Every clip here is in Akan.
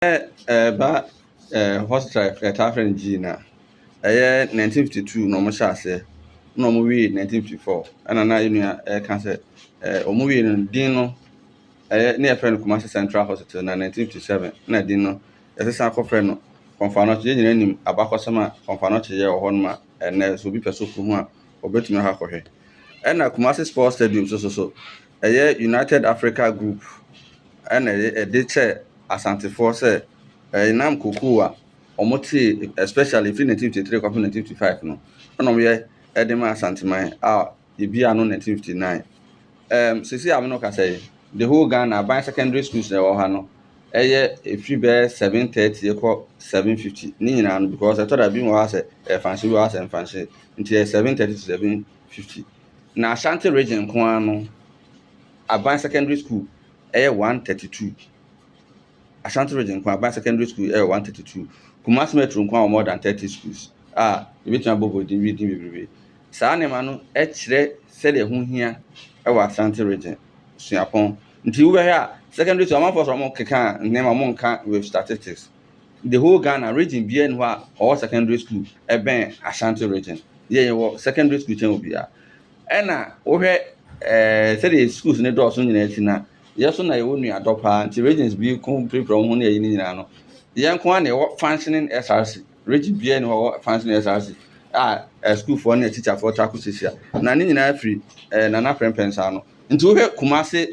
Sɛ ɛreba eh, hot strike, yɛtaa frɛ no Gene a, ɛyɛ 1952 na wɔhyɛ aseɛ na wɔwie 1954. Ɛna na yɛn nua ɛreka sɛ eh, wɔwie no din no ɛyɛ ne yɛfrɛ no Kumasi Central Hospital na 1957 na din no yɛsesan akɔfrɛ no Kɔmfanoche. Yɛn nyinaa nim abakɔsɛm a Kɔmfanoche yɛ wɔ hɔ nom a ɛnɛ sɛ obi pɛ so ko ho a ɔbɛtumi akɔ akɔhwɛ. Ɛna Kumasi Sports Stadium so so so Ɛyɛ United Africa Group na ɛde kyɛɛ Asantefoɔ sɛ ɛnam kokoo a wɔtee especially firi 1953 kɔpem 1955 no ɛna wɔyɛ ɛde ma Asanteman a yɛbie ano 1959. Ɛɛm sisi a me no kasa yi the whole Ghana aban secondary schools na ɛwɔ ha no ɛyɛ ɛfiri bɛyɛ 730 ɛkɔ 750 ne nyinaa no because ɛtɔ da bi wɔ ha sɛ ɛfanhyɛ bi wɔ ha sɛ ɛmfanhyɛ nti ɛyɛ 730 to 750 na Ashanti Region nko ara no, Aban Secondary School yɛ 132. Ashanti Region nko ara, Aban Secondary School yɛ 132. Kumasi Metro nko ara wɔ more than 30 schools a yɛbɛtumi abɔ bɔ din din bebrebe. Saa nneɛma no kyerɛ sɛdeɛ ɛho hia wɔ Ashanti Region suapɔn. Nti wobɛhwɛ a, secondary school, amanfoɔ sɛ wɔkeka nneɛma, wɔnka with statistics. The whole Ghana region biara ni hɔ a ɔwɔ secondary school ɛbɛn Ashanti region. Yɛ yɛwɔ secondary school kyɛn obiara. Ɛna wohwɛ ɛɛ sɛdeɛ schools ne dɔɔso nyinaa akyi na yɛ so na yɛwɔ nuadɔ paa nti regions bi ko pirapira wɔn ho ne ɛyi ne nyinaa no. Yɛn nko ara na yɛwɔ functioning SRC. Region biara ni hɔ wɔ functioning SRC a eh, schoolfoɔ ne teacherfoɔ ta ko sisia. Na ne nyinaa firi eh, Nana Prempeh nsa ano. Nti wohwɛ Kumase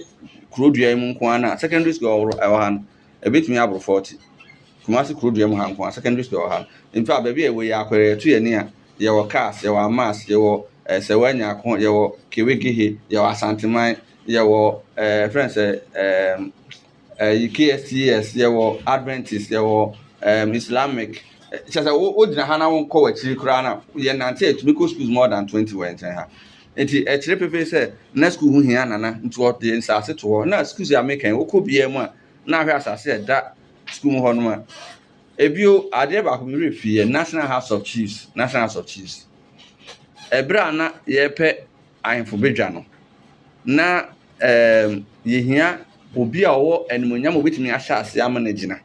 kuro dua yi mu nko ara na secondary school ɛwɔ ha no. Ɛbɛtumi aboro fɔɔte. Kumasi kuro dua mu ha nko ara, secondary school wɔ ha. In fact, baabi a yɛwɔ yi, Akwere, yɛtu yɛn ani a, yɛwɔ Kars, yɛwɔ Amas, yɛwɔ eh, Sewaa Nyako, yɛwɔ Kewegehe, yɛwɔ Asanteman, yɛwɔ eh, friend sɛ eh, eh, KSTS, yɛwɔ Adventist, yɛwɔ eh, Islamic. Kyerɛ sɛ wo wogyina ha na wonkɔ w'akyiri koraa na yɛnante atumi kɔ schools more than 20 wɔ yɛn nkyɛn ha. Nti ɛkyerɛ pefee sɛ na sukuu ho hia Nana nti ɔde nsaase to hɔ. Na sukuus a meka yi wokɔ biaa mu a na ahwɛ asaase a ɛda sukuu mu hɔ nom a. Ebio adeɛ baako me werɛ fi yɛ National House of Chiefs, National House of Chiefs. Ɛberɛ a na yɛrepɛ ahemfo badwa no na ɛɛm yɛhia obi a ɔwɔ animonyam a obetumi ahyɛ aseɛ ama no agyina.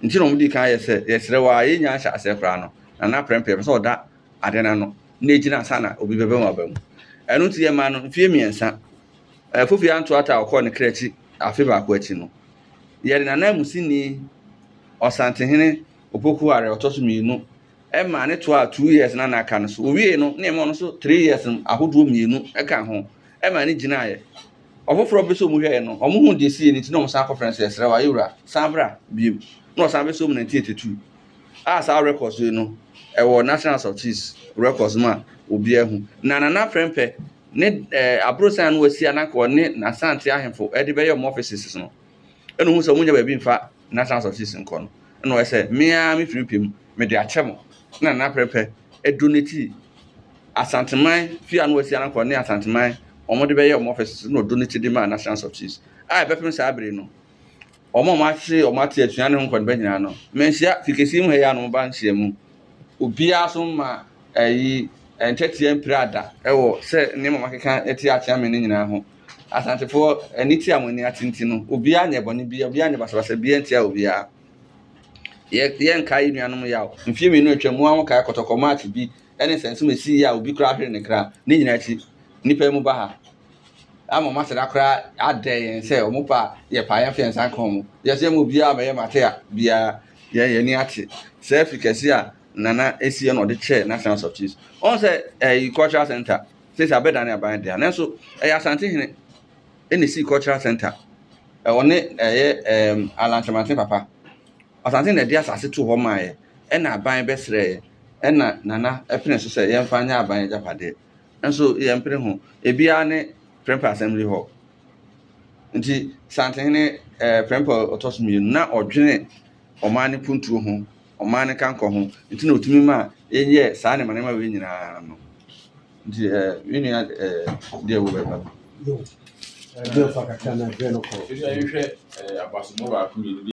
Nti na wɔn dii kan yɛ sɛ yɛsrɛ wo ara yɛnnya nhyɛ aseɛ koraa no Nana Prɛmpɛ pɛ sɛ ɔda ade no ano na egyina ansa na obi bɛbɛn w'aba mu. Ɛno nti yɛmaa no mfeɛ mmiɛnsa. Ɛɛ Kofi Anto Atta a ɔkɔɔ ne kra akyi afe baako akyi no, yɛde n'ananmusini Ɔsantehene Opoku Are ɔtɔ so mmienu ɛmaa ne toaa two years na na aka no so. Owiei no na yɛma ɔno nso three years ahodoɔ mmienu ɛka ho ɛmaa ne gyinaeɛ. Ɔfoforɔ bi nso wɔn hwɛɛ no, wɔn huu deɛ esii no nti na wɔn san kɔfrɛ no sɛ yɛsrɛ wo Ayewura san bra bio na ɔsan bɛsom nineteen eighty two a saa records yi no ɛwɔ National House of Chiefs records mu a obiara hu. Na Nana Prempeh ne ɛɛ aborosan a na wasi a na anka ɔne Asante ahemfo de bɛyɛ wɔn offices no, ɛna ohuu sɛ wɔnnya baabi mfa National House of Chiefs nkɔ no, ɛna ɔyɛ sɛ me ara me firi pɛ mu mede akyɛ mo. Ɛna Nana Prempeh ɛdonetee Asanteman fie a na wasi a na anka ɔne Asanteman wɔn de bɛyɛ wɔn offices no, ɛna ɔdonetee de maa National House of Chiefs a ɛbɛpem saa bere yi no, wɔn a wɔahwere wɔn ate atua ne ho nkɔniba nyinaa no, manhyia fi kɛse yi mu ha yi a na wɔba nhyiamu. Obiara so mma ayi ntwɛteɛ mpiraa da wɔ sɛ nneɛma a makeka atia akyea me no nyinaa ho. Asantefoɔ, aniteɛ a mo ani ate nti no, obiara nyɛ bɔne biara, obiara nyɛ basabasa biara ntia obiara. Yɛ yɛnkae yɛn nuanom yaw. Mfeɛ mmienu a atwam, mo ara mokae kɔtɔkɔ March bi ne nsɛnso a ɛsii a obi koraa hweree ne kra. Ne nyinaa akyi, nnipa yi moba ha. ama wɔn aseda koraa adɛ yɛn sɛ wɔn pɛ a yɛ paa yɛn fɛ yɛn nsa nka wɔn yɛsɛ yɛn mu biara bɛyɛ mate a biara yɛ yɛn ani ate sɛ afi kɛse a nana esi yɛ na ɔde kyerɛ national house of chiefs wɔn sɛ ɛyi eh, cultural center sisi abɛda ne aban deɛ nanso ɛyɛ asante hene ɛna esi cultural center ɛwɔ ne ɛyɛ ɛɛm alantemante papa asante na ɛde asase to hɔ maa yɛ ɛna aban bɛsrɛ yɛ ɛna nana ɛpene so sɛ yɛn fa nyɛ aban yɛ gyapadeɛ. Nso yɛmpere ho. Ebiara ne Prempeh Assembly Hall. Nti Santehene eh, Prempeh ɔtɔ so mmienu, na ɔdwene ɔman no puntuo ho, ɔman no kankɔ ho, nti na ɔtumi ma yɛyɛ saa nneɛma nneɛma wei nyinaa no. Nti eh, me nua eh, deɛ wobɛba bi. Ɛdeɛ fa kakra na ɛdeɛ no kɔ. Ɛdeɛ yɛhwɛ eh, abasomu baako mmienu bi.